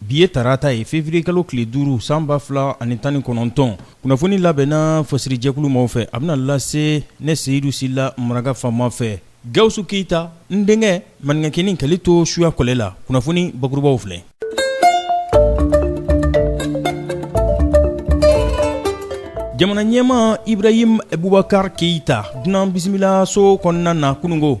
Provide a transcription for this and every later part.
Bi ye tarata ye feburuyekalo tile duuru san ba fila ani tan ni kɔnɔntɔn kunnafoni labɛnna fasirijɛkulu maaw fɛ a bɛna lase ne Seyidu Sila maraka faama fɛ Gawusu keyita n denkɛ maninkakɛnin k'ale to suya kɔlɛ la kunnafoni bakurubaw filɛ jamana ɲɛmaa Ibrahim Bubakari Keyita dunan bisimilaso kɔnɔna na kununko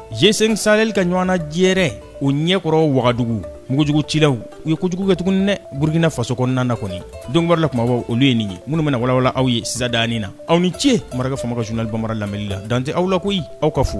G5 Sahel ka ɲɔgɔnna jɛrɛ o ɲɛkɔrɔ wagadugu mugujugu cilaw u ye kojugu kɛ tuguni dɛ burukina faso kɔnɔna na kɔni dɔnkibaru la kumabaw olu ye nin ye minnu bɛna walawala aw ye sisan daani na aw ni ce maraka faama ka journal banbara lamɛnni la dan tɛ aw la koyi aw ka fo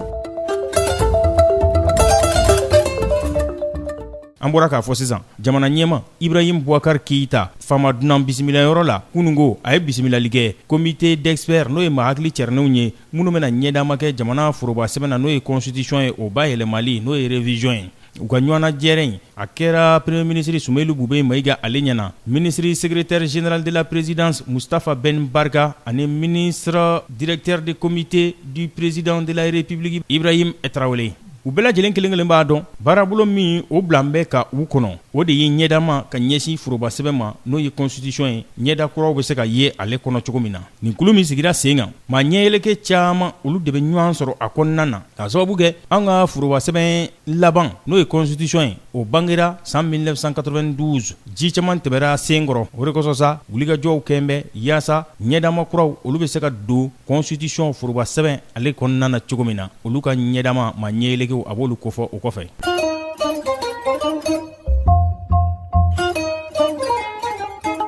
an bɔra k'a fɔ sisan jamana ɲɛmaa Ibrahim Bubakari Keyita faama dunan bisimilayɔrɔ la kununko a ye bisimilali kɛ comité d'experts n'o ye maa hakili cɛrinenw ye minnu bɛna ɲɛdama kɛ jamana forobasɛbɛn na n'o ye constitution ye o bayɛlɛmali n'o ye révision ye u ka ɲɔgɔnna jɛrɛ in a kɛra premier ministre Sumeyilu Bubeyi mayiga ale ɲɛna ministre secrétaire général de la présidence mustafa ben barka ani ministre directeur de comité du président de la république ibrahim Tarawele u bɛɛ lajɛlen kelen kelen b'a dɔn baarabolo min o bilalen bɛ ka u kɔnɔ o de ye ɲɛdama ka ɲɛsin forobasɛbɛn ma n'o ye kɔnsitisɔn ye ɲɛda kuraw bɛ se ka ye ale kɔnɔ cogo min na nin kulu min sigira sen kan maa ɲɛyɛlɛkɛ caman olu de bɛ ɲɔgɔn sɔrɔ a kɔnɔna na k'a sababu kɛ an ka forobasɛbɛn laban n'o ye kɔnsitisɔn ye o bangera san 1992 ji caman tɛmɛra sen kɔrɔ o de kosɔn sa wulikajɔw kɛlen bɛ yaasa ɲɛdama kuraw olu bɛ se ka don kɔnsitisɔn forobasɛbɛn ale kɔnɔna na cogo min na olu ka ɲɛdama maa ɲɛyɛlɛkɛw a b'olu kofɔ o kɔfɛ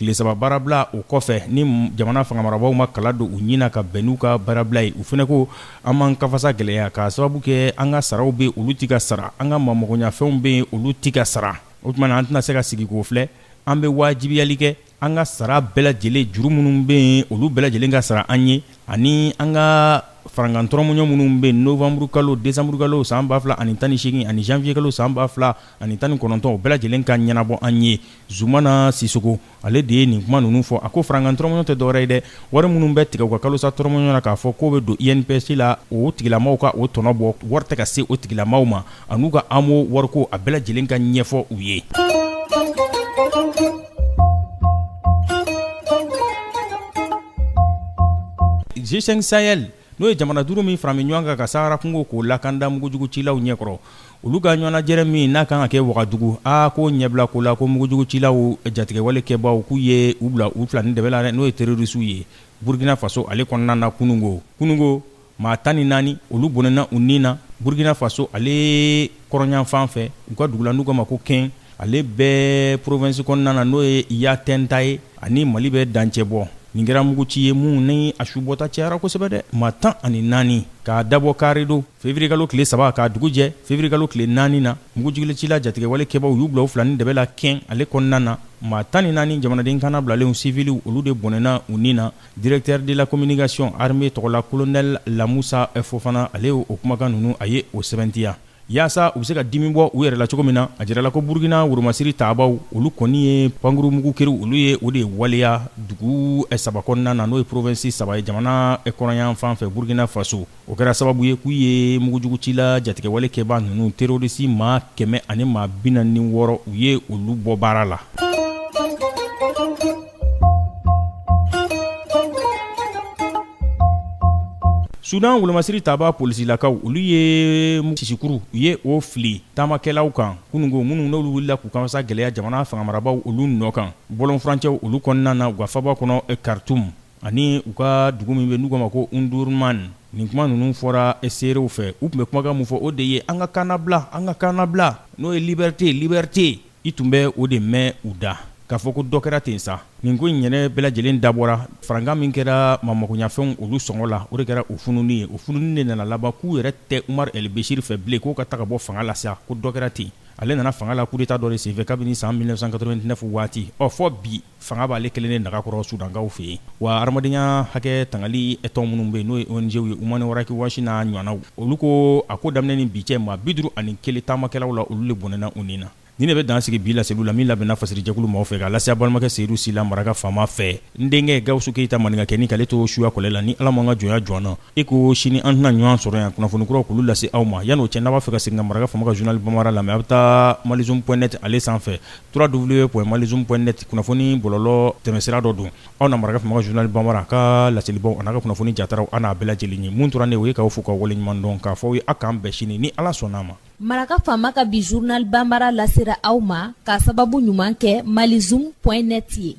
tile saba baarabila o kɔfɛ ni jamana fangamarabagaw ma kala don u ɲin na ka bɛn n'u ka baarabila ye u fana ko an b'an ka fasa gɛlɛya k'a sababu kɛ an ka saraw bɛ olu tɛ ka sara an ka maa magoɲafɛnw bɛ yen olu tɛ ka sara o tuma na an tɛna se ka sigi k'o filɛ an bɛ wajibiyali kɛ an ka sara bɛɛ lajɛlen juru minnu bɛ yen olu bɛɛ lajɛlen ka sara an ye ani an ka farankan tɔrɔmɔɲɔ minnu bɛ yen novanburukalo desanburukalo san ba fila ani tan ni seegin ani zanwiyekalo san ba fila ani tan ni kɔnɔntɔn o bɛɛ lajɛlen ka ɲɛnabɔ an ye Zumana Sisoko ale de ye nin kuma ninnu fɔ, a ko farankan tɔrɔmɔɲɔ tɛ dɔwɛrɛ ye dɛ, wari minnu bɛ tigɛ u ka kalosa tɔrɔmɔɲɔ na k'a fɔ k'o bɛ don INPS la, o tigilamaaw ka o tɔnɔ bɔ, wari tɛ ka se o tigilamaaw ma, an'u ka AMO wariko, a bɛɛ lajɛlen ka ɲɛfɔ u ye. G5 Sahel n'o ye jamana duuru min farami ɲɔgɔn kan ka sahara kungo k'o lakanda mugujugu cilaw ɲɛkɔrɔ olu ka ɲɔgɔnnajɛrɛ min n'a kan ka kɛ wagadugu a k'o ɲɛbila ko la ko mugujugu cilaw jatigɛwale kɛbaaw k'u ye u bila u fila ni dɛbɛ la dɛ n'o ye terorisiw ye burkina faso ale kɔnɔna na kunungo kunungo maa tan ni naani olu bɔnɛna u ni na burkina faso ale kɔrɔnyanfan fɛ u ka dugu la n'u k'a ma ko Kɛn ale bɛ porovɛnsi kɔnɔna na n'o ye yatɛnga ye ani mali bɛ dancɛ bɔ nin kɛra mugu ci ye mun ni a su bɔta cɛyara kosɛbɛ dɛ maa tan ani naani k'a dabɔ kari don fevriyekalo tile saba k'a dugu jɛ fevriyekalo tile naani na mugujugucila jatigɛwale kɛbaw u y'u bila fila ni dɛbɛ la kɛn ale kɔnɔna na maa tan ni naani jamanaden kannabilalenw siviliw olu de bɔnɛna u ni na directeur de la communication armée tɔgɔla kolonɛli lamusa fofana ale o kumakan ninnu a ye o sɛbɛntiya Yaasa u bɛ se ka dimi bɔ u yɛrɛ la cogo min na a jirala ko Burukina woromasiri tabaaw olu kɔni ye pankuru mugu keriw olu ye o de waleya dugu saba kɔnɔna na n'o ye porovensi saba ye jamana kɔrɔnyan fan fɛ Burukina Faso. O kɛra sababu ye k'u ye mugujugucila jatigɛwale kɛbaa ninnu terorisi maa kɛmɛ ani maa bi naani ni wɔɔrɔ u ye olu bɔ baara la. sudan wolomasiri tabaa polisilakaw olu ye sisikuru u ye o fili taamakɛlaw kan kunungo minnu n'olu wulila k'u kanfasa gɛlɛya jamana fangamarabaw olu nɔ kan bɔlɔnfurancɛw olu kɔnɔna na u ka faaba kɔnɔ karitum ani u ka dugu min bɛ n'u k'a ma ko undurman nin kuma ninnu fɔra seerew fɛ u tun bɛ kumakan min fɔ o de ye an ka kannabila an ka kannabila n'o ye libɛrite libɛrite i tun bɛ o de mɛn u da k'a fɔ ko dɔ kɛra ten sa nin ko in yɛrɛ bɛɛ lajɛlen dabɔra farankan min kɛra maa makoɲɛfɛnw olu sɔngɔ la o de kɛra o fununi ye o fununi de nana laban k'u yɛrɛ tɛ umaru el beshir fɛ bilen k'o ka taga bɔ fanga la sa ko dɔ kɛra ten ale nana fanga la kudeta dɔ de senfɛ kabini san mille neuf cent quatre-vingt-neuf waati ɔ fɔ bi fanga b'ale kelen de nagakɔrɔ Sudankaw fɛ yen, wa hadamadenya hakɛ tangali tɔn minnu bɛ yen n'o ye ONG ye Human Rights Watch n'a ɲɔgɔnnaw, olu ko a ko daminɛ ni bi cɛ maa 51 taamakɛlaw la olu de bɔnɛna u ni na. Nin de bɛ dan sigi bi laseliw la min labɛnna fasirijɛkulu maaw fɛ k'a lase a balimakɛ Seyidu Sila maraka faama fɛ. N denkɛ Gawusu Keyita maninka kɛni k'ale to suya kɔlɛ la ni Ala m'an ka jɔnya jɔ an na, i ko sini an tɛna ɲɔgɔn sɔrɔ yan kunnafoni kuraw k'olu lase aw ma. Yan'o cɛ n'a b'a fɛ ka segin ka maraka faama ka journal Bambara lamɛn a bɛ taa malizoom point net ale sanfɛ. www.malizoom.net kunnafoni bɔlɔlɔ tɛmɛnsira dɔ don aw na maraka faama ka journal bambara a ka laselibaw an'a ka kunnafoni jataraw an n'a bɛɛ lajɛlen ye mun tora ne ye o ye k'aw fo k'aw waleɲumandɔn k'a fɔ aw ye a k'an bɛn sini ni Ala sɔnn'a ma Maraka faama ka bi journal bambara lasera aw ma k'a sababu ɲuman kɛ malizoom.net ye